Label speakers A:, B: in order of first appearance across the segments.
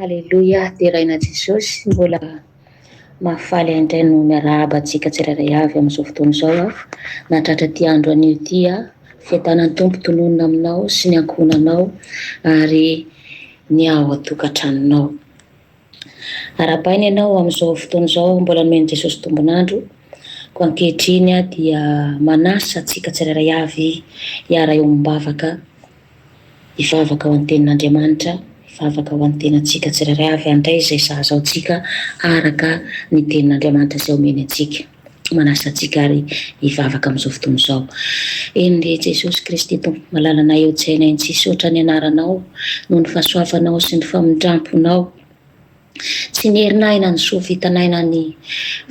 A: Aleloia, deraina Jesosy, mbola mahafaly ahy indray no miarahaba antsika tsirairay avy amin'izao fotoana izao aho, nahatratra ity andro anio ity aho, fiadanan'ny Tompo tononina aminao sy ny ankohonanao ary ny ao an-tokantranonao. Arahabaina ianao amin'izao fotoana izao, mbola nomen'i Jesosy tombon'andro, koa ankehitriny aho dia manasa antsika tsirairay avy hiara-eo am-bavaka, Hivavaka ho an'ny Tenin'Andriamanitra, hivavaka ho an'ny tenantsika tsirairay ary handray izay sahaza antsika araka ny Tenin'Andriamanitra izay omeny antsika. Manasa antsika àry hivavaka amin'izao fotoana izao. Eny, ry Jesosy Kristy Tompo malalanay eo an-tsainay, mitsisotra ny Anaranao noho ny fahasoavanao sy ny famindram-ponao. Tsy nierin'aina ny soa vitan'aina ny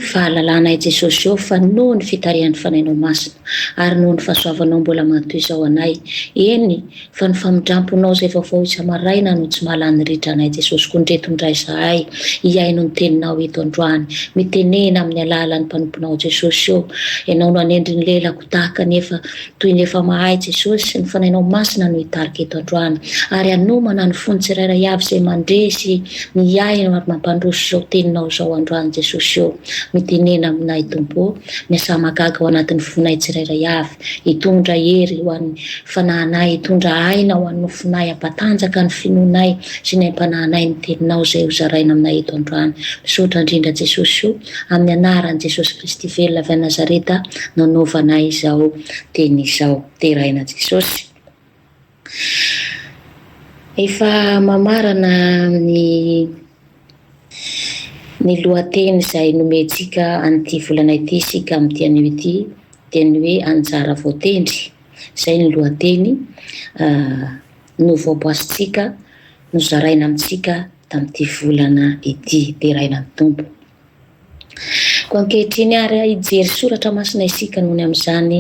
A: fahalalanay Jesosy ô fa noho ny fitarihan'ny Fanahinao Masina ary noho ny fahasoavanao mbola matoizao anay, eny fa ny famindramponao izay vaovao isa-maraina no tsy mahalany ritra anay Jesosy koa ndreto indray izahay hihaino ny Teninao eto androany mitenena amin'ny alalan'ny mpanomponao Jesosy ô Ianao no hanendry ny lelako tahaka ny efa toy ny efa mahay Jesosy sy ny Fanainao Masina no hitarika eto androany, ary hanomana ny fony tsirairay avy izay mandre sy mihaino ary mampandroso izao Teninao izao androany Jesosy ô, mitenena aminay Tompo ô, miasà mahagaga ao anatin'ny fonay tsirairay avy, hitondra hery ho an'ny fanahinay, hitondra aina ho an'ny nofinay, hampatanjaka ny finoanay sy ny aim-panahinay ny Teninao izay ho zaraina aminay eto androany, misaotra indrindra Jesosy ô. Amin'ny anaran'i Jesosy Kristy velona avy any Nazareta no anaovana izao teny izao. Deraina Jesosy. Efa mamarana ny ny lohateny izay nomentsika an'ity volana ity isika amin'ity anio ity dia ny hoe anjara voatendry. Izay ny lohateny novoaboasintsika, nozaraina amintsika tamin'ity volana ity deraina ny Tompo. Koa ankehitriny ary hijery soratra masina isika nony amin'izany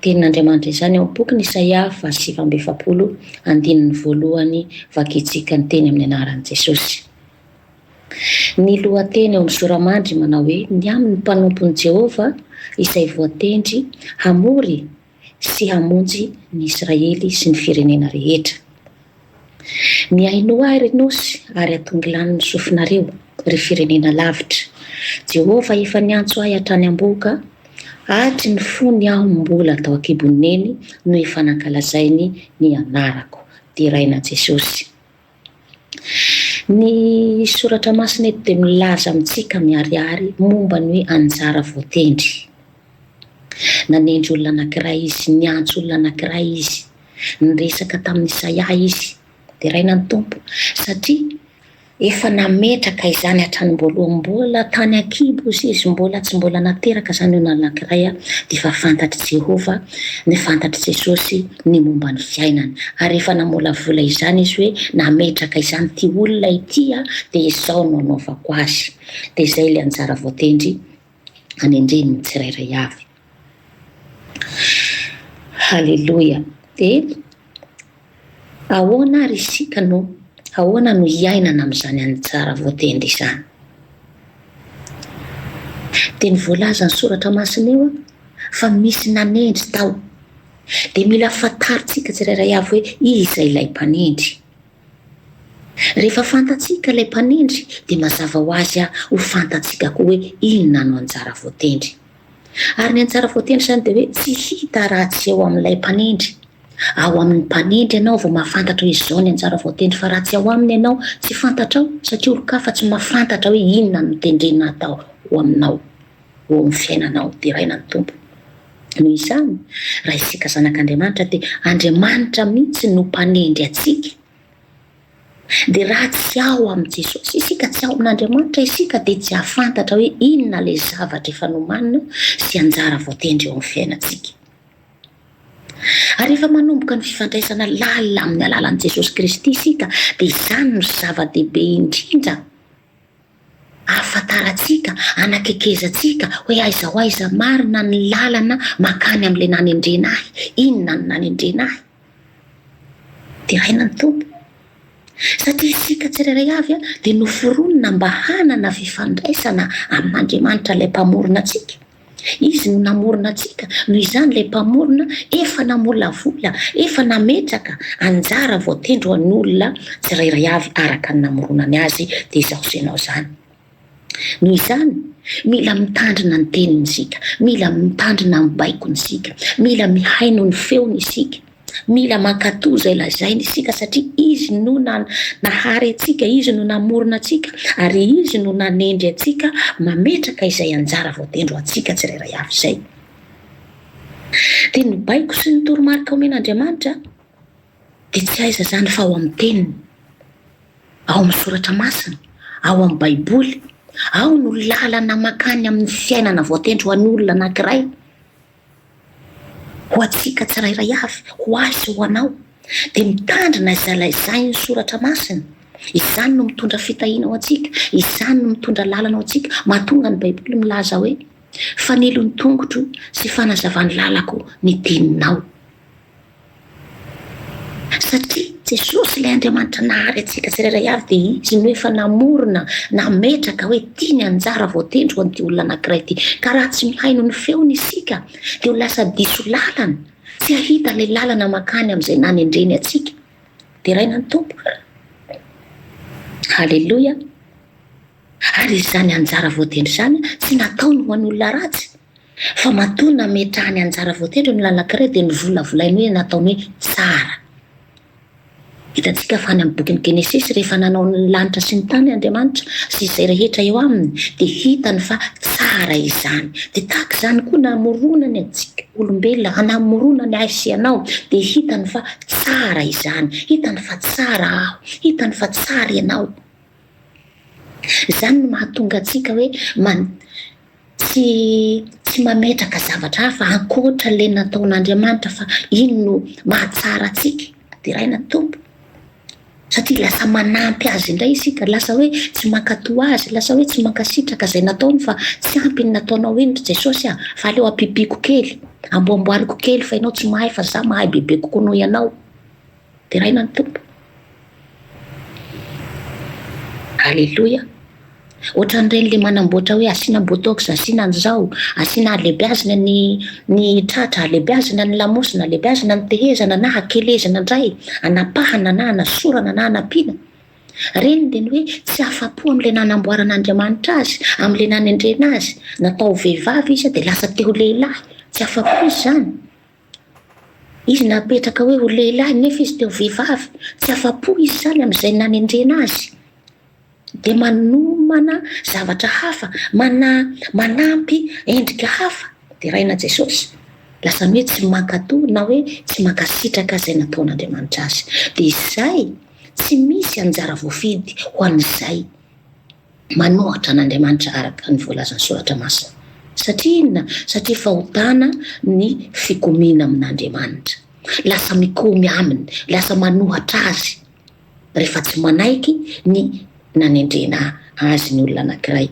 A: tenin'Andriamanitra izany ao am-pokiny Isaia faha sivy amby efapolo andininy voalohany vakintsika ny teny amin'ny anaran'i Jesosy. Ny lohateny ao amin'ny Sora-mandry manao hoe ny amin'ny mpanompon'i Jehovah izay voatendry hamory sy hamonjy ny Israely sy ny firenena rehetra. Mihainoa ahy, ry nosy, ary atongy lany ny sofinareo, ry firenena lavitra. Jehovah efa niantso ahy hatrany am-bohoka, hatry ny fony aho mbola tao an-kibon'ny neny no efa nankalazainy ny anarako. Deraina Jesosy. Ny Soratra Masina eto dia milaza amintsika miharihary momba ny hoe anjara voatendry. Nanendry olona anankiray izy, niantso olona anankiray izy, niresaka tamin'i Isaia izy. Deraina ny Tompo, satria efa nametraka izany hatranim-boalohany. Mbola tany an-kibo izy, mbola tsy mbola nateraka izany olona anankiray, dia efa fantatr'i Jehovah Ny fantatr'i Jesosy ny momba ny fiainany, ary efa namolavola izany izy hoe, Nametraka izany ity olona ity aho, dia izao no hanaovako azy. Dia izay ilay anjara voatendry hanendren'ny tsirairay avy. Haleloia! Dia Ahoana ary isika no ahoana no hiainana amin'izany anjara voatendry izany? Dia ny voalazan'ny Soratra Masina eo fa misy nanendry tao. Dia mila fantarintsika tsirairay avy hoe iza ilay mpanendry. Rehefa fantatsika ilay mpanendry dia mazava ho azy ho fantatsika koa hoe inona no anjara voatendry. Ary ny antsara voatendry izany dia hoe tsy hita raha tsy eo amin'ilay mpanendry. Ao amin'ny mpanendry ianao vao mahafantatra hoe izao ny antsara voatendry fa raha tsy ao aminy ianao, tsy fantatrao satria olon-kafa tsy mahafantatra hoe inona no tendrena hatao ho aminao eo amin'ny fiainanao. Deraina ny Tompo. Noho izany, raha isika zanak'Andriamanitra dia Andriamanitra mihitsy no mpanendry antsika. Dia raha tsy ao amin'i Jesosy isika, tsy ao amin'Andriamanitra isika, dia tsy hahafantatra hoe inona ilay zavatra efa nomanina sy anjara voatendry eo amin'ny fiainantsika. Ary rehefa manomboka ny fifandraisana lalina amin'ny alalan'i Jesosy Kristy isika, dia izany no zava-dehibe indrindra, Ahafantarantsika, anakekezantsika hoe aiza ho aiza marina ny lalana mankany amin'ilay nanendrena ahy. Inona no nanendrena ahy? Deraina ny Tompo. Satria isika tsirairay avy dia noforonina mba hanana fifandraisana amin'Andriamanitra ilay Mpamorona antsika. Izy no namorona antsika, noho izany ilay Mpamorona efa namolavola, efa nametraka anjara voatendry ho an'olona tsirairay avy araka ny namoronany azy, dia izaho sy ianao izany. Noho izany, mila mitandrina ny teniny isika, mila mitandrina ny baikony isika, mila mihaino ny feony isika. Mila mankatò izay lazainy isika satria Izy no nahary antsika, Izy no namorona antsika ary Izy no nanendry antsika mametraka izay anjara voatendry ho antsika tsirairay avy izay. Dia ny baiko sy ny toromarika omen'Andriamanitra dia tsy aiza izany fa ao amin'ny Teniny, ao amin'ny Soratra Masina, ao amin'ny Baiboly. Ao no lalana makany amin'ny fiainana voatendry ho an'olona anankiray. Ho antsika tsirairay avy, ho ahy sy ho anao, dia mitandrina izay laizain'ny Soratra Masina. Izany no mitondra fitahiana ho antsika, izany no mitondra lalana ho antsika, mahatonga ny Baiboly milaza hoe, Fanilo ny tongotro sy fanazavan'ny lalako ny teninao. Satria Jesosy ilay Andriamanitra nahary antsika tsirairay avy dia Izy no efa namorona, nametraka hoe ity ny anjara voatendry ho an'ity olona anankiray ity. Ka raha tsy mihaino ny feony isika dia ho lasa diso lalana, tsy hahita ilay lalana makany amin'izay nanendreny antsika. Deraina ny Tompo. Haleloia. Ary izany anjara voatendry izany tsy nataony ho an'olona ratsy, fa matoa nametrahany anjara voatendry ny olona anankiray dia novolavolainy hoe nataony hoe tsara. Hitantsika fa any amin'ny bokin'ny Genesisy, rehefa nanao ny lanitra sy ny tany Andriamanitra sy izay rehetra eo aminy, dia hitany fa tsara izany. Dia tahaka izany koa namoronany antsika olombelona, hanamoronany ahy sy ianao, dia hitany fa tsara izany. Hitany fa tsara aho, hitany fa tsara ianao. Izany no mahatonga antsika hoe man, tsy tsy mametraka zavatra hafa ankoatra ilay nataon'Andriamanitra fa iny no mahatsara antsika deraina ny Tompo. Satria lasa manampy azy indray isika, lasa hoe tsy mankatò azy, lasa hoe tsy mankasitraka izay nataony fa tsy ampy ny nataonao iny ry Jesosy ah, fa aleo ampipiako kely, amboamboariko kely fa ianao tsy mahay fa za mahay bebe kokoa noho ianao. Deraina ny Tompo. Aleloia. Ohatran'ireny le manamboatra hoe asiana botox, asiana an'izao, asiana alebiazina ny ny tratra, alebiazina ny lamosina, alebiazina ny tehezana na akelezina indray, anapahana na anasorana na anampiana. Ireny dia ny hoe tsy afa-po amin'ilay nanamboaran'Andriamanitra azy, amin'ilay nanendrena azy. Natao ho vehivavy izy dia lasa te ho lehilahy. Tsy afa-po izy izany. Izy napetraka hoe ho lehilahy nefa izy te ho vehivavy, tsy afa-po izy izany amin'izay nanendrena azy, dia manomana zavatra hafa, mana, manampy endrika hafa, deraina Jesosy, lasa ny hoe tsy mankato na hoe tsy mankasitraka izay nataon'Andriamanitra azy. Dia izay, tsy misy anjara voafidy ho an'izay. Manohitra an'Andriamanitra araka ny voalazan'ny Soratra Masina. Satria inona? Satria fahotana ny fikomiana amin'Andriamanitra. Lasa mikomy Aminy, lasa manohitra Azy rehefa tsy manaiky ny nanendrena Azy ny olona anankiray.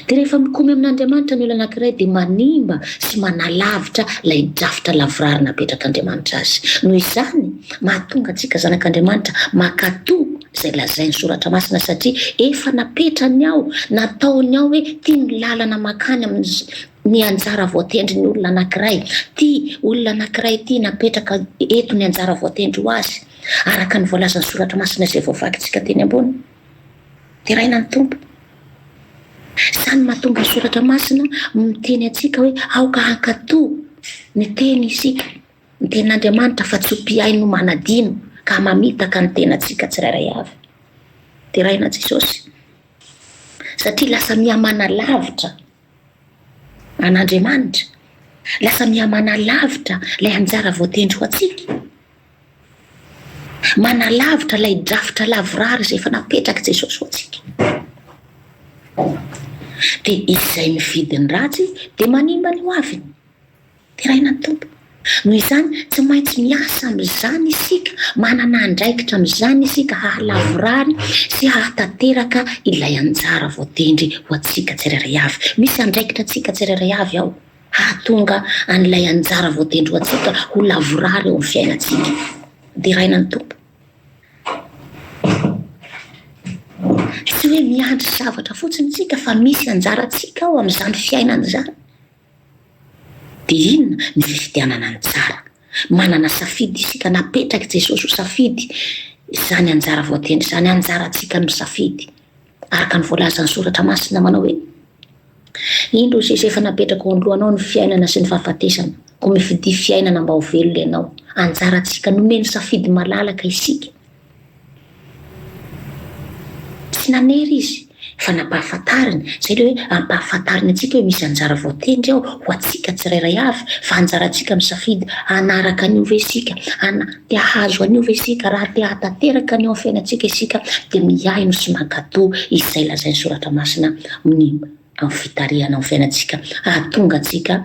A: Dia rehefa mikomy amin'Andriamanitra ny olona anankiray dia manimba sy manalavitra ilay drafitra lavorary napetrak'Andriamanitra azy. Noho izany, mahatonga antsika zanak'Andriamanitra mankatò. izay lazain'ny Soratra Masina, satria efa napetrany ao, nataony ao hoe ity ny lalana mankany amin'ny ny anjara voatendrin'ny olona anankiray, ity olona anankiray ity napetraka eto ny anjara voatendry ho azy, araka ny voalazan'ny Soratra Masina izay voavakintsika teny ambony. Deraina ny Tompo. Izany mahatonga ny Soratra Masina miteny antsika hoe aoka hankatò ny teny isika. Ny Tenin'Andriamanitra fa tsy ho mpihaino manadino ka mamitaka ny tenantsika tsirairay avy. Deraina Jesosy satria lasa mihamana lavitra an'Andriamanitra, lasa mihamana lavitra ilay anjara voatendry ho antsika, manalavitra ilay drafitra lavorary izay efa napetrak'i Jesosy ho antsika. Dia izay mividy ny ratsy dia manimba ny hoaviny. Deraina ny Tompo. Noho izany, tsy maintsy miasa amin'izany isika, manana andraikitra amin'izany isika hahalavorary sy hahatanteraka ilay anjara voatendry ho antsika tsirairay avy. Misy andraikitra antsika tsirairay avy ao hahatonga an'ilay anjara voatendry ho antsika ho lavorary eo amin'ny fiainantsika. Deraina ny Tompo. Tsy hoe miandry zavatra fotsiny isika fa misy anjarantsika ao amin'izany fiainana izany. Dia inona ny fifidianana ny tsara? Manana safidy isika na apetrak'i Jesosy ho safidy izany anjara voatendry izany, anjarantsika ny misafidy, araka ny voalazan'ny Soratra Masina manao hoe, Indro i Jesosy efa napetrako eo anoloanao ny fiainana sy ny fahafatesana, koa mifidia fiainana mba ho velona ianao. Anjarantsika nomeny safidy malalaka isika. Tsy nanery izy fa nampahafantariny, izay ilay hoe ampahafantariny antsika hoe misy anjara voatendry ao ho antsika tsirairay avy, fa anjarantsika misafidy hanaraka an'io ve isika, hana, te hahazo an'io ve isika, raha te hahatanteraka an'io amin'ny fiainantsika isika dia mihaino sy mankatò izay lazain'ny Soratra Masina amin'ny amin'ny fitarihana amin'ny fiainantsika hahatonga antsika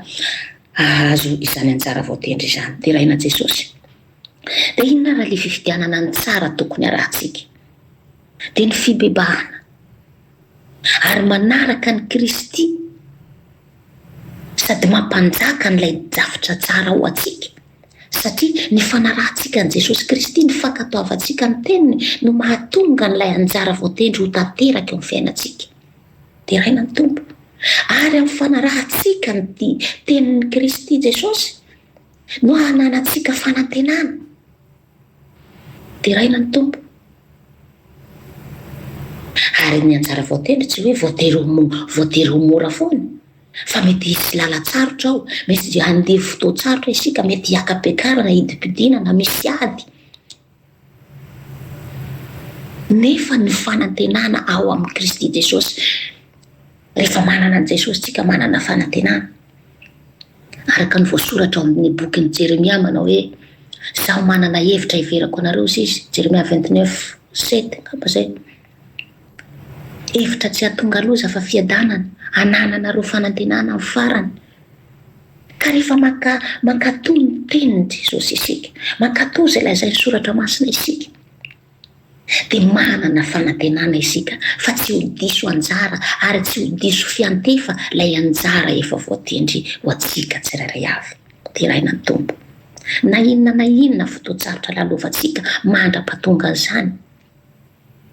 A: hahazo izany anjara voatendry izany deraina Jesosy. Dia inona ary ilay fifidianana ny tsara tokony arahantsika? Dia ny fibebahana ary manaraka an'i Kristy sady mampanjaka an'ilay drafitra tsara ho antsika. Satria ny fanarahantsika an'i Jesosy Kristy, ny fankatoavantsika ny teniny no mahatonga an'ilay anjara voatendry ho tanteraka eo amin'ny fiainantsika. Deraina ny Tompo. Ary amin'ny fanarahantsika ny tenin'i Kristy Jesosy, No hananantsika fanantenana. Deraina ny Tompo. Ary ny anjara voatendry tsy hoe voatery ho mo- voatery ho mora foana, fa mety hisy lalan-tsarotra ao, mety handevo fotoan-tsarotra isika, mety hiaka-piakarana, hidim-pidiana na misy ady. Nefa ny fanantenana ao amin'i Kristy Jesosy, rehefa manana an'i Jesosy tsika manana fanantenana. Araka ny voasoratra ao amin'ny bokin'i Jeremia manao hoe Zaho manana hevitra hiverako anareo sy izy, Jeremia 29, 7, angamba zay. Hevitra tsy hatonga loza fa fiadanana, anananareo fanantenana amin'ny farany. Ka rehefa manka, mankatò ny Tenin'i Jesosy isika, mankatò izay lazain'ny Soratra Masina isika, dia manana fanantenana isika fa tsy ho diso anjara ary tsy ho diso fiantefa ilay anjara efa voatendry ho antsika tsirairay avy. Deraina ny Tompo. Na inona na inona fotoan-tsarotra lalovantsika mandra-pahatongan'izany,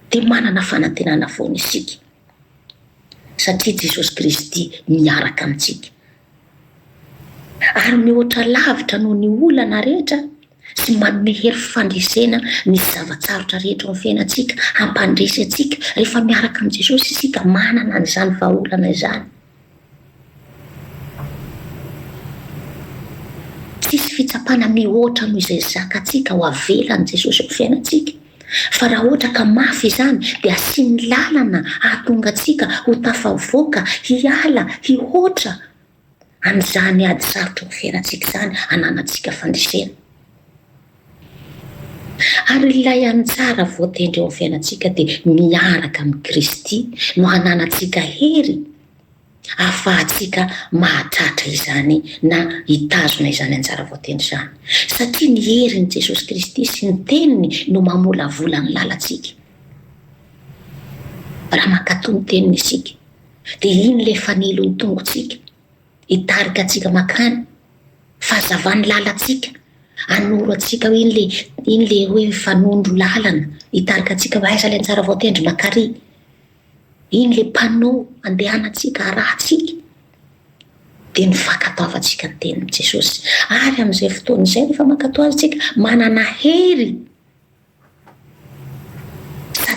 A: dia manana fanantenana foana isika. satria Jesosy Kristy miaraka amintsika. Ary mihoatra lavitra noho ny olana rehetra sy manome hery fandresena ny zava-tsarotra rehetra ao amin'ny fiainantsika, hampandresy antsika rehefa miaraka amin'i Jesosy isika manana an'izany vahaolana izany. Tsisy fitsapana mihoatra noho izay zakantsika ho avelan'i Jesosy amin'ny fiainantsika. Fa raha ohatra ka mafy izany, dia asiany lalana hahatonga antsika ho tafavoaka hiala hihoatra an'izany ady sarotra amin'ny fiainantsika izany hananantsika fandresena. Ary ilay anjara voatendry eo amin'ny fiainantsika dia miaraka amin'i Kristy no hananantsika hery hahafahantsika mahatratra izany na hitazona izany anjara voatendry izany. Satria ny herin'i Jesosy Kristy sy ny Teniny no mamolavola ny lalantsika. Raha mankatò ny Teniny isika, dia iny ilay fanilo ny tongotsika. hitarika antsika makany fahazavan'ny lalantsika anoro antsika hoe iny le iny le hoe fanondro lalana hitarika antsika hoe aiza le antsara vaotendry makary iny le panneau andehanantsika arahantsika dia ny fankatoavantsika ny tenin'i jesosy ary amin'izay fotoana izay rehefa mankatoa azy tsika manana hery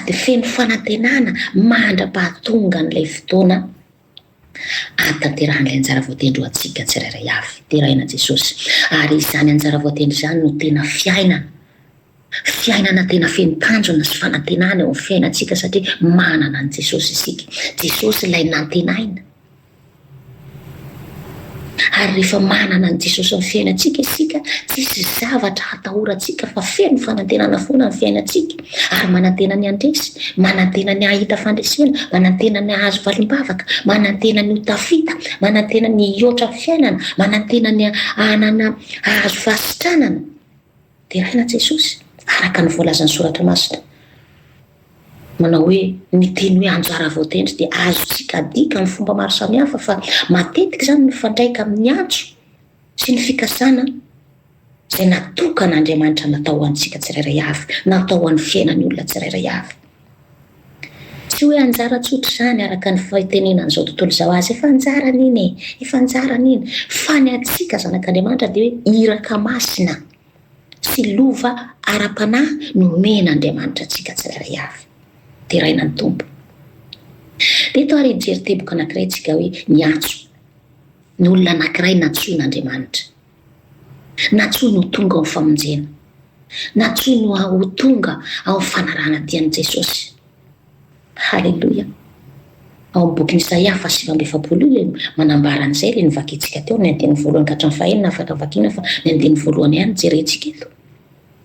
A: sady feno fanantenana mandra-pahatonga an'ilay fotoana hahatanterahan'ilay anjara voatendry ho antsika tsirairay avy. Deraina Jesosy. Ary izany anjara voatendry izany no tena fiainana. Fiainana tena feno tanjona sy fanantenana eo amin'ny fiainantsika satria manana an'i Jesosy isika. Jesosy ilay nantenaina. Ary rehefa manana an'i Jesosy ny fiainantsika isika, tsisy zavatra hatahorantsika fa feno fanantenana foana ny fiainantsika ary manantena ny handresy, manantena ny hahita fandresena, manantena ny hahazo valim-bavaka, manantena ny ho tafita, manantena ny hihoatra ny fiainana, manantena ny hanana hahazo fahasitranana. Deraina Jesosy, araka ny voalazan'ny Soratra Masina, manao hoe, Ny teny hoe anjara voatendry dia azontsika adika amin'ny fomba maro samihafa, fa matetika izany mifandraika amin'ny antso sy ny fikasana izay natokan'Andriamanitra natao ho antsika tsirairay avy, natao ho an'ny fiainan'ny olona tsirairay avy. Tsy hoe anjara tsotra izany araka ny fitenenan'izao tontolo izao azy, efa anjarany iny e, efa anjarany iny, fa ny antsika zanak'Andriamanitra dia hoe iraka masina sy lova ara-panahy no omen'Andriamanitra antsika tsirairay avy, deraina ny Tompo. Dia eto ary hijery teboka anankiray tsika hoe ny antso, ny olona anankiray nantsoin'Andriamanitra. Na tsy ho no tonga ao famonjena. Na tsy ho no ho tonga ao fanarahana dia an'i Jesosy. Haleloia. Ao amin'ny bokin'i Isaia faha sivy amby efapolo io ilay manambara an'izay ilay novakintsika teo ny andininy voalohany ka hatramin'ny fahenina afaka vakiana fa ny andininy voalohany ihany jerentsika eto.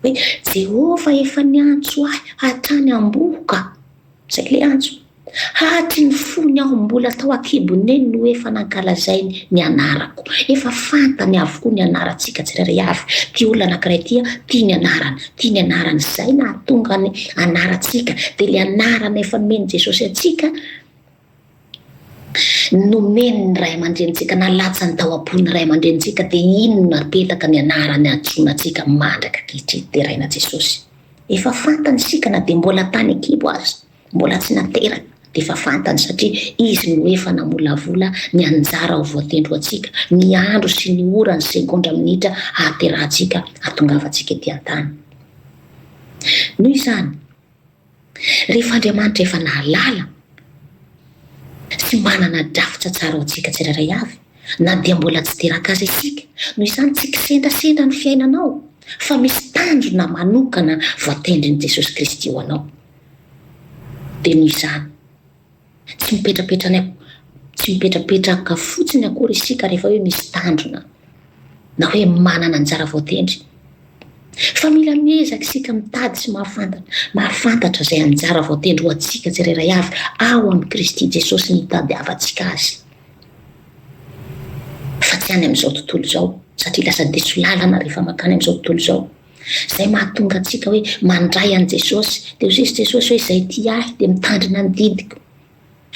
A: Hoe Jehovah efa niantso ahy hatrany am-bohoka. Zay le antso. Hahatry ny fony aho mbola tao an-kibon'eny no efa nankalazainy ny anarako. Efa fantany avokoa ny anarantsika tsirairay avy. Ty olona anankiray ty an, ty ny anarany, ty ny anarany. Zay nahatonga ny anarantsika. Dia le anarana efa nomen'i Jesosy antsika. nomen'ny ray aman-drenintsika na latsany tao am-pon'ny ray aman-drenintsika dia iny no napetaka ny anarany hantsoina antsika mandraka ankehitriny, deraina Jesosy. Efa fantany isika na dia mbola tany an-kibo aza, mbola tsy nateraka dia efa fantany satria Izy no efa namolavola ny anjara ho voatendry ho antsika, ny andro sy ny ora, ny segondra, minitra hahaterahantsika, hahatongavantsika ety an-tany. Noho izany. Rehefa Andriamanitra efa nahalala sy manana drafitra tsara ho antsika tsirairay avy, na dia mbola tsy teraka aza isika, noho izany tsy kisendrasendra ny fiainanao, fa misy tanjona manokana voatendrin'i Jesosy Kristy ho anao. Dia noho izany. Tsy mipetrapetra any am-, tsy mipetrapetraka fotsiny akory isika rehefa hoe misy tanjona na hoe manana anjara voatendry, fa mila miezaka isika mitady sy mahafantatra, mahafantatra izay anjara voatendry ho antsika tsirairay avy ao amin'i Kristy Jesosy nitadiavantsika Azy, fa tsy any amin'izao tontolo izao, satria lasa diso lalana rehefa mankany amin'izao tontolo izao. Izay mahatonga antsika hoe mandray an'i Jesosy. Dia hozizy Jesosy hoe, Izay tia Ahy dia mitandrina ny didiko.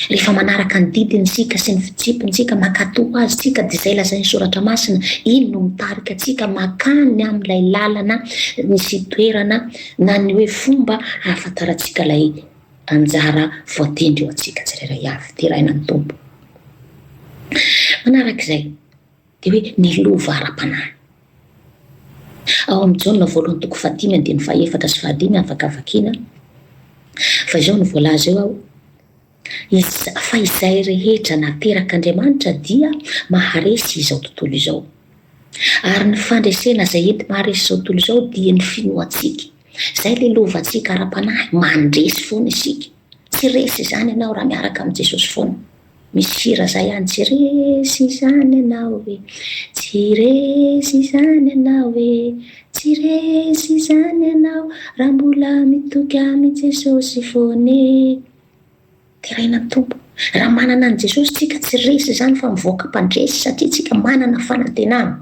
A: Rehefa manaraka ny didiny isika sy ny fitsipiny isika, mankatò Azy isika, dia izay lazain'ny Soratra Masina, Iny no mitarika antsika mankany amin'ilay lalana sy toerana na ny hoe fomba hahafantarantsika ilay anjara voatendry ho antsika tsirairay avy, deraina amin'ny Tompo. Manaraka izay, Dia hoe ny lova ara-panahy. Ao amin'ny Jaona voalohany toko fahadimy andininy fahaefatra sy fahadimy afaka vakiana fa izao no voalaza eo ao, Iz, fa izay rehetra naterak'Andriamanitra dia maharesy izao tontolo izao. Ary ny fandresena izay enti-maharesy izao tontolo izao dia ny finoantsika. Izay ilay lovantsika ara-panahy, mandresy foana isika. Tsy resy izany ianao raha miaraka amin'i Jesosy foana. Misy hira izay any, Tsy resy izany ianao e, tsy resy izany ianao e, tsy resy izany ianao raha mbola mitoky amin'i Jesosy foana e. Deraina ny Tompo. Raha manana an'i Jesosy isika, tsy resy izany fa mivoaka mpandresy satria isika manana fanantenana.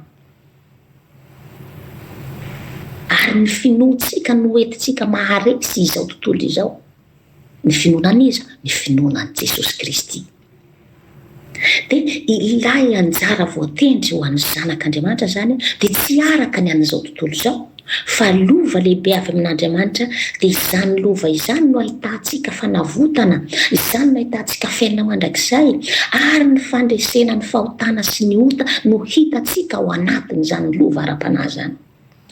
A: Ary ny finoantsika no hoentintsika maharesy izao tontolo izao. Ny finoana an'iza? Ny finoana an'i Jesosy Kristy. Dia ilay anjara voatendry ho an'ny Zanak'Andriamanitra izany dia tsy araka ny an'izao tontolo izao. Fa lova lehibe avy amin'Andriamanitra, dia izany lova izany no ahitantsika fanavotana, izany no ahitantsika fiainana mandrakizay, ary ny fandresena ny fahotana sy ny ota no hitantsika ao anatin'izany lova ara-panahy izany.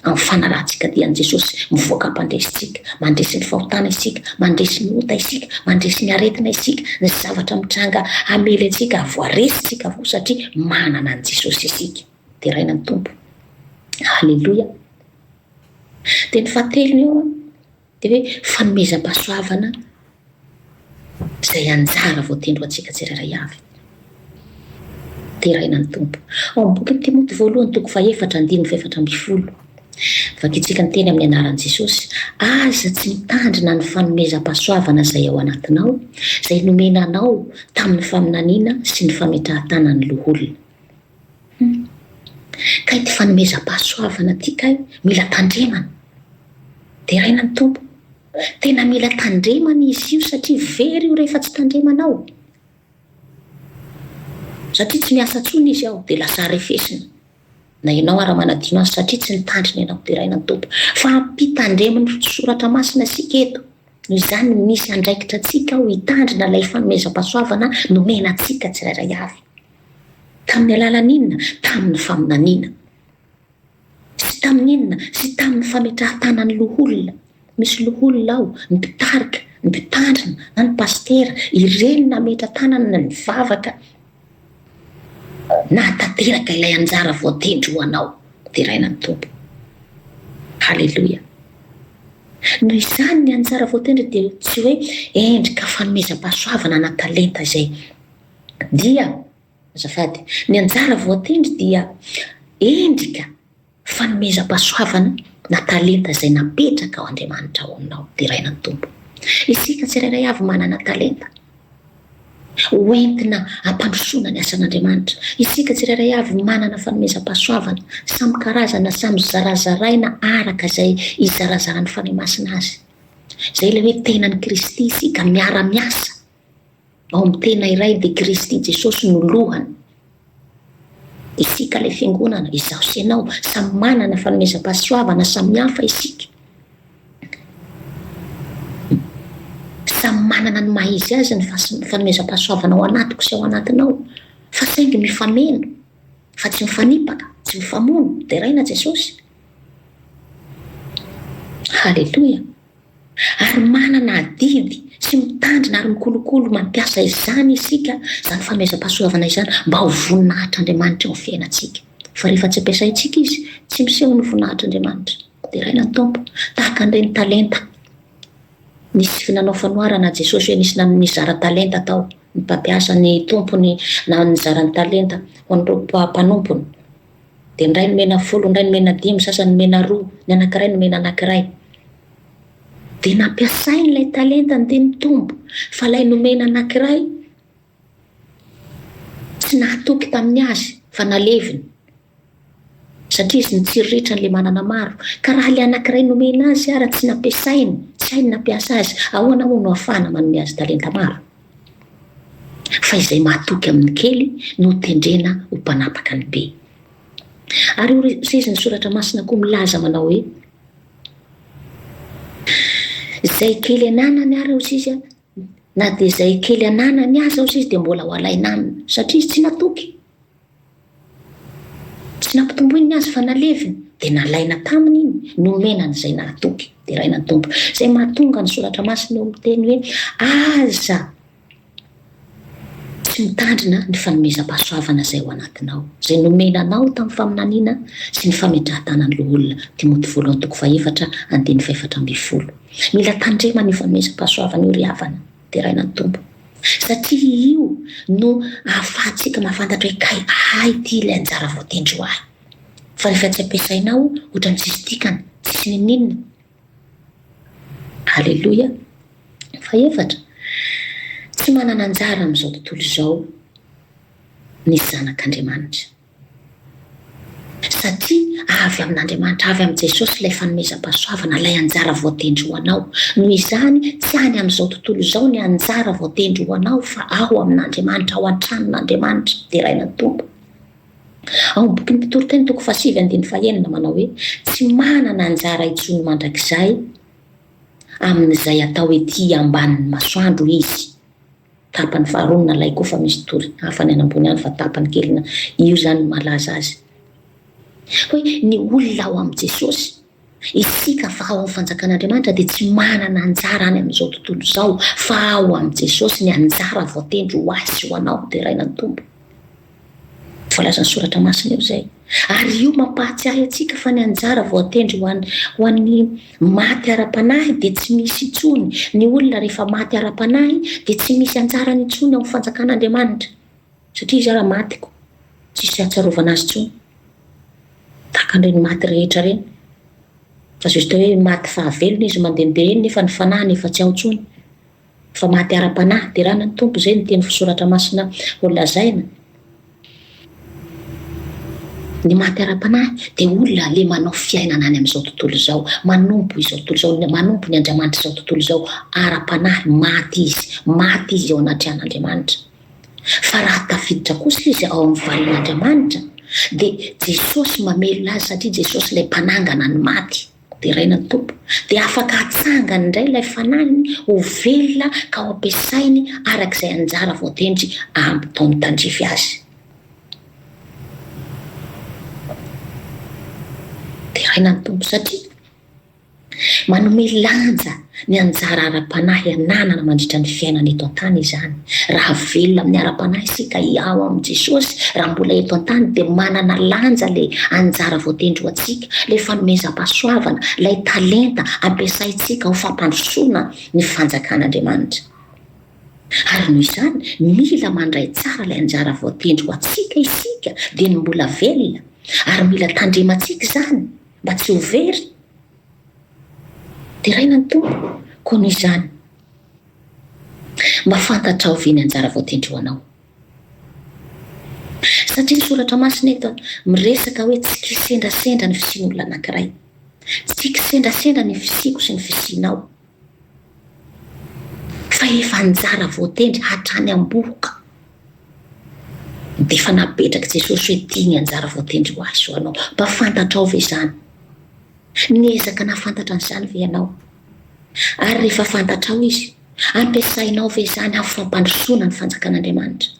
A: Amin'ny fanarahantsika dian'i Jesosy, mivoaka mpandresy isika. Mandresy ny fahotana isika, mandresy ny ota isika, mandresy ny aretina isika, ny zavatra mitranga hamely antsika, ary voaresintsika avokoa satria manana an'i Jesosy isika. Deraina ny Tompo. Haleloia. Dia ny fahatelo eo dia hoe fanomezam-pahasoavana izay anjara voatendry ho antsika tsirairay avy. Deraina ny Tompo. Ao amin'ny bokin'i Timoty voalohany toko fahefatra andininy fahefatra ambin'ny folo. Vakintsika ny teny amin'ny anaran'i Jesosy. Aza tsy mitandrina ny fanomezam-pahasoavana izay ao anatinao, izay nomena anao tamin'ny faminaniana sy ny fametrahan-tanan'ny loholona. Kay ity fanomezam-pahasoavana ity kay mila tandremana. Deraina ny Tompo. Tena mila tandremana izy io satria very io rehefa tsy tandremana ao. Satria tsy miasa intsony izy ao dia lasa arefesina. Na ianao ara manadino azy satria tsy nitandrina ianao. Deraina ny Tompo. Fa ampitandremin'ny soratra masina isika eto. Noho izany misy andraikitra antsika ao hitandrina ilay fanomezam-pahasoavana nomena antsika tsirairay avy. Tamin'ny alalan'inona? Tamin'ny faminaniana. Tsy tamin'inona? Tsy tamin'ny fametrahan-tanan'ny loholona. Misy loholona ao, ny mpitarika, ny mpitandrina, na ny pasitera, ireny nametra-tanany na nivavaka nahatanteraka ilay anjara voatendry ho anao, deraina ny Tompo. Haleloia. Noho izany ny anjara voatendry dia tsy hoe endrika fanomezam-pahasoavana na talenta izay. Dia, azafady, ny anjara voatendry dia endrika fanomezam-pahasoavana na talenta izay napetraka ao Andriamanitra ao aminao, deraina ny Tompo. Isika tsirairay avy manana talenta ho entina hampandrosoana ny asan'Andriamanitra. Isika tsirairay avy manana fanomezam-pahasoavana samy karazana, samy zarazaraina araka izay izarazaran'ny Fanahy Masina azy. Izay ilay hoe tenan'i Kristy isika miara-miasa ao amin'ny tena iray dia Kristy Jesosy no lohany. Isika ilay fiangonana, izaho sy ianao, samy manana fanomezam-pahasoavana samihafa isika. Samy manana ny maha izy azy ny fanomezam-pahasoavana ao anatiko sy ao anatinao, fa saingy mifameno, fa tsy mifanipaka, tsy mifamono, deraina Jesosy. Haleloia. Ary manana adidy sy mitandrina ary mikolokolo mampiasa izany isika, izany fanomezam-pahasoavana izany, mba ho voninahitr'Andriamanitra eo amin'ny fiainantsika. Fa rehefa tsy ampiasaintsika izy, tsy miseho ny voninahitr'Andriamanitra. Deraina ny Tompo, tahaka an'ireny talenta nisy nanao fanoharana Jesosy hoe nisy nizara talenta tao, ny mpampiasa, ny tompony nizara ny talenta ho an'ireo mpanompony. Dia ny iray nomena folo, ny iray nomena dimy, ny sasany nomena roa, ny anankiray nomena anankiray. Dia nampiasainy ilay talentany dia nitombo. Fa ilay nomena anankiray tsy nahatoky tamin'ny azy fa naleviny. Satria izy nitsiriritra an'ilay manana maro. Ka raha ilay anankiray nomena azy ara tsy nampiasainy, tsy hainy nampiasa azy, ahoana moa no ahafahana manome azy talenta maro? fa izay mahatoky amin' ny kely no hotendrena ho mpanapaka ny be. Ary io sezin' ny Soratra Masina koa milaza manao hoe, Izay kely ananany ary aoz izy, na dia izay kely ananany aza aoz izy dia mbola ho alaina aminy, satria izy tsy natoky. Tsy nampitomboiny ny azy fa naleviny, dia nalaina taminy iny, nomena an'izay nahatoky. Deraina ny Tompo. Izay mahatonga ny Soratra Masina eo miteny hoe, Aza tsy mitandrina ny fanomezam-pahasoavana izay ao anatinao, izay nomena anao tamin'ny faminaniana sy ny fametrahan-tanan'ny loholona. Timoty voalohany toko fahefatra, andininy fahefatra ambin'ny folo. Mila tandremana io fanomezam-pahasoavana io ry havana. Deraina ny Tompo, satria io no ahafahantsika mahafantatra hoe kay ahy ity ilay anjara voatendry ho ahy. Fa rehefa tsy ampiasaina ao, ohatran'ny tsisy dikany, tsisy niniana. Aleloia. Fahefatra, tsy manana anjara amin'izao tontolo izao ny zanak'Andriamanitra. Satria avy amin'Andriamanitra, avy amin'i Jesosy ilay fanomezam-pahasoavana, ilay anjara voatendry ho anao. Noho izany, tsy any amin'izao tontolo izao ny anjara voatendry ho anao fa ao amin'Andriamanitra, ao an-tranon'Andriamanitra deraina ny Tompo. Ao amin'ny bokin'ny Mpitoriteny toko fahasivy andininy fahenina manao hoe, Tsy manana anjara intsony mandrakizay amin'izay atao ety ambanin'ny masoandro izy. Tapany faharoa ny nalaiko fa misy tory hafa any anambony any fa tapany kely na io zany ny mahalaza azy. Hoe ny olona ao amin'i Jesosy. Isika fa ao amin'ny fanjakan'Andriamanitra dia tsy manana anjara any amin'izao tontolo izao fa ao amin'i Jesosy ny anjara voatendry ho ahy sy ho anao deraina ny Tompo. Voalazan'ny Soratra Masina eo izay. Ary io mampahatsiahy antsika fa ny anjara voatendry ho an'ny ho an'ny maty ara-panahy dia tsy misy intsony. Ny olona rehefa maty ara-panahy dia tsy misy anjarany intsony ao amin'ny Fanjakan'Andriamanitra, satria izy ara maty koa tsisy ahatsiarovana azy intsony, tahaka an'ireny maty rehetra ireny. Azo atao hoe maty fahavelona izy mandehandeha eny nefa ny fanahiny efa tsy ao intsony. Fa maty ara-panahy, deranan' ny Tompo izay ny teny fisoratra masina ho lazaina. Ny maty ara-panahy dia olona le manao fiainana any amin'izao tontolo izao, manompo izao tontolo izao, ny manompo ny andriamanitr' izao tontolo izao ara-panahy, maty izy, maty izy eo anatrehan' Andriamanitra. Fa raha tafiditra kosa izy ao amin'ny valin' Andriamanitra dia Jesosy mamelona azy satria Jesosy ilay mpanangana ny maty. Deraina ny Tompo, dia afaka hatsangany indray ilay fanahiny ho velona ka ho ampiasainy araka izay anjara voatendry aminy tao amin'ny tandrify azy. Deraina ny Tompo satria manome lanja Ny anjara ara-panahy ananana mandritra ny fiainana eto an-tany izany. Raha velona amin'ny ara-panahy isika hihaho amin'i Jesosy raha mbola eto an-tany dia manana lanja ilay anjara voatendry ho antsika, ilay fanomezam-pahasoavana, ilay talenta ampiasaintsika ho fampandrosoana ny Fanjakan'Andriamanitra. Ary noho izany, mila mandray tsara ilay anjara voatendry ho antsika isika dieny mbola velona, ary mila tandremantsika izany mba tsy ho very. Deraina ny Tompo, koa noho izany, mba fantatrao ve ny anjara voatendroanao? Satria ny Soratra Masina eto miresaka hoe tsy kisendrasendra ny fisian'olona anankiray. Tsy kisendrasendra ny fisiako sy ny fisianao. fa efa nizara voatendry hatrany am-bohoka dia efa napetrak'i Jesosy hoe ity ny anjara voatendry ho azy ho anao. Mba fantatrao ve izany? Niezaka nahafantatra an'izany ve ianao? Ary rehefa fantatrao izy, ampiasainao ve izany amin'ny fampandrosoana ny fanjakan'Andriamanitra?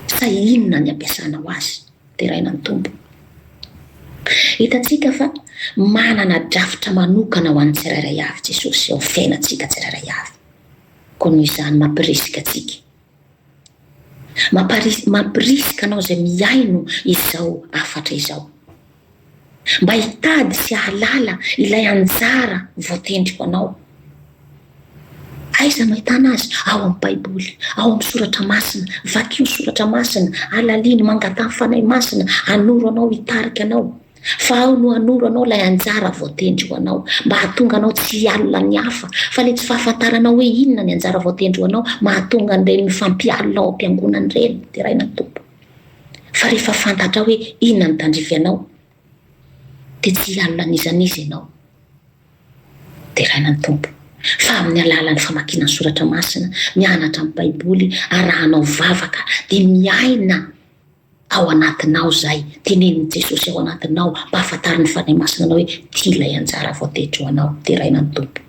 A: Sa inona ny ampiasanao azy? deraina ny Tompo. Hitantsika fa manana drafitra manokana ho an'ny tsirairay avy Jesosy eo amin'ny fiainantsika tsirairay avy, koa noho izany mampirisika antsika. Mampirisika anao izay mihaino izao hafatra izao. mba hitady sy hahalala ilay anjara voatendriko anao. Aiza no ahitana azy? Ao amin'ny Baiboly, ao amin'ny soratra masina. Vakio ny soratra masina, halalino, mangataha ny Fanahy Masina hanoro anao, hitarika anao. Fa ao no hanoro anao ilay anjara voatendry ho anao, mba hahatonga anao tsy hialona ny hafa. Fa ilay tsy fahafantaranao hoe inona ny anjara voatendry ho anao, mahatonga an'ireny mifampialona ao am-piangonana ireny. Deraina ny Tompo. fa rehefa fantatrao hoe inona ny tandrify anao dia tsy hialona an'izany izy ianao. Deraina ny Tompo fa amin'ny alalan'ny famakiana ny soratra masina, mianatra ny Baiboly, arahanao vavaka dia miaina ao anatinao izay tenenin'i Jesosy ao anatinao mba hahafantarin'ny Fanahy Masina anao hoe tia ilay anjara voatendry ho anao. Deraina ny Tompo.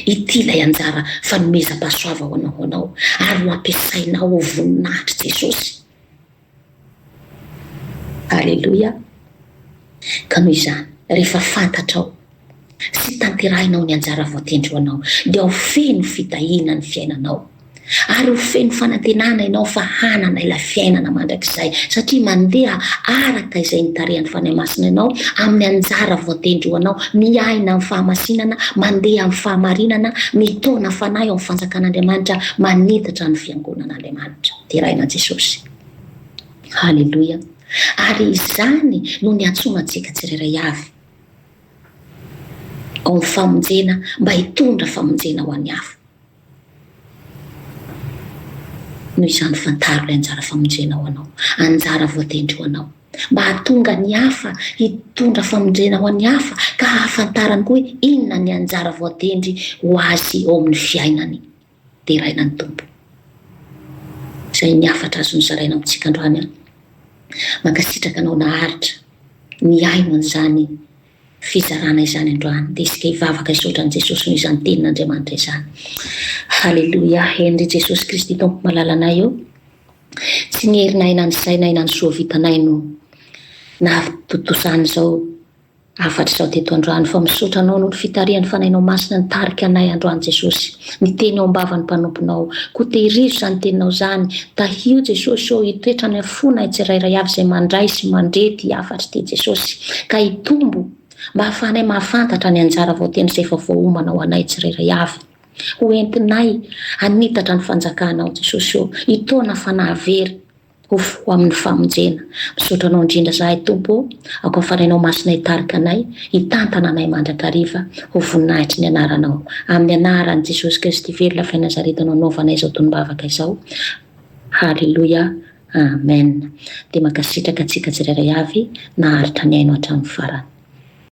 A: Ity ilay anjara fanomezam-pahasoava ho anao ho anao ary ho ampiasainao ho voninahitr'i Jesosy. Aleloia! Ka noho izany, rehefa fantatrao sy tanterahinao ny anjara voatendry ho anao, dia ho feno fitahiana ny fiainanao. Ary ho feno fanantenana ianao fa hanana ilay fiainana mandrakizay, satria mandeha araka izay nitarihan'ny Fanahy Masina ianao, amin'ny anjara voatendry ho anao, miaina amin'ny fahamasinana, mandeha amin'ny fahamarinana, mitaona fanahy ao amin'ny Fanjakan'Andriamanitra, manitatra ny Fiangonan'Andriamanitra deraina Jesosy. Haleloia! Ary izany no niantsoana antsika tsirairay avy ao amin'ny famonjena mba hitondra famonjena ho an'ny hafa. Noho izany fantaro ilay anjara famonjena ho anao, anjara voatendry ho anao, mba hahatonga ny hafa hitondra famonjena ho an'ny hafa ka hahafantarany koa hoe inona ny anjara voatendry ho azy ao amin'ny fiainany. Deraina ny Tompo. Izay ny hafatra azo nozaraina amintsika androany an. Mankasitraka anao naharitra nihaino an'izany fizarana izany androany dia isika hivavaka hisaotra an'i Jesosy noho izany tenin'Andriamanitra izany. Haleloia! Henry Jesosy Kristy Tompo malala anay ô! Tsy ny herinay na ny sainay na ny soa vitanay no nahatontosa an'izao hafatra izao teto androany fa misaotra Anao noho ny fitarihan'ny Fanahinao Masina nitarika anay androany Jesosy. Ny teny ao am-bavan'ny mpanomponao. Koa tehirizo izany teninao izany. Tahio Jesosy ô, hitoetra any amin'ny fonay tsirairay avy izay mandray sy mandre ity hafatr' ity Jesosy, ka hitombo mba hahafahanay mahafantatra ny anjara voatendry izay efa voaomana ho anay tsirairay avy. Ho entinay hanitatra ny fanjakanao Jesosy ô, hitaona fanahy very Ho amin'ny famonjena. Misaotra Anao indrindra izahay Tompo ô, aokafanenao Masina hitarika anay, hitantana anay mandrakariva, ho voninahitry ny Anaranao. Amin'ny Anaran'i Jesosy Kristy velona avy any Nazareta no anaovanay izao tonom-bavaka izao. Haleloia. Amen. Dia mankasitraka antsika tsirairay avy naharitra nihaino hatramin'ny farany.